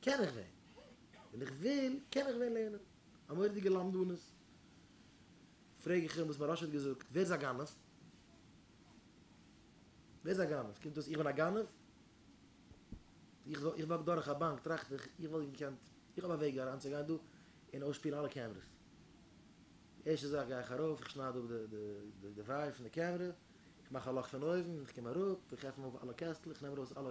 קען איך ווען ווען איך וויל קען איך ווען לערנען א מורא'דיגע למדנות, פרעג איך אים וואס מוהרא ש האט געזאגט, ווער איז א גנב? ווער איז א גנב? קומט אויס איך בין א גנב? איך איך וואק דורך א באנק טראכט איך איך וואלט געקענט איך האב א וועג אריין צו גיין דא און אויסשפילן אלע קעמרעס, די ערשטע זאך גיי איך ארויף איך שנייד אפ די די די ווייער פון די קעמרע, איך מאך א לאך פון אויבן איך קום אראפ איך עפן אויף אלע קעסטלעך איך נעם ארויס אלע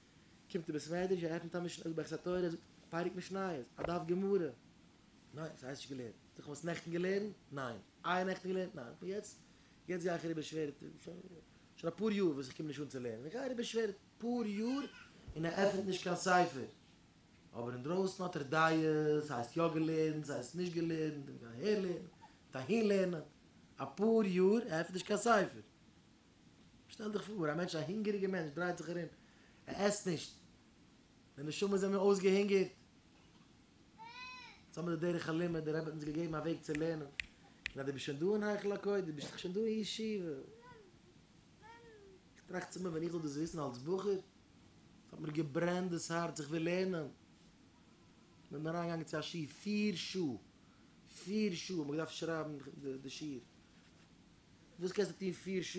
קומט די בית מדרש ער עפענט א משנה זאגט ברכת התורה זאגט פרק משניות א דף גמרא ניין ס'הייסט נישט געלערנט זאג איך האסט נעכטן געלערנט ניין איי נעכטן געלערנט ניין און יעצט יעצט גיי איך אריבער שווער שוין אפאר יאר וואס איך קום נישט אן צו לערנען איך גיי אריבער שווער אפאר יאר און ער עפענט נישט קיין ספר אבער אינדרויסן האט ער דעות ס'הייסט יא געלערנט ס'הייסט נישט געלערנט און גייט אהער לערנען גייט אהין לערנען אפאר יאר ער עפענט נישט קיין ספר שטעל דיך פאר, א מענטש, א הונגעריגער מענטש דרייט זיך ארום, ער עסט נישט, די נשמות זענען אויסגעהונגערט. יעצט האבן מיר די דרך הלימוד, דער רבי האט אונז געגעבן א וועג צו לערנען, און אז דו ביסט שוין דא אין היכל הקודש, דו ביסט דאך שוין דא אין ישיבה. איך טראכט צומאל, ווען איך זאל דאס וויסן אלס בחור, עס האט מיר געברענט דאס הארץ, איך וויל לערנען. מיר זענען אריינגעגאנגען צו א שיעור פיר שעה, פיר שעה האט מען געדארפט שרייבן די שיעור. וואס קענסטו טון פיר שעה?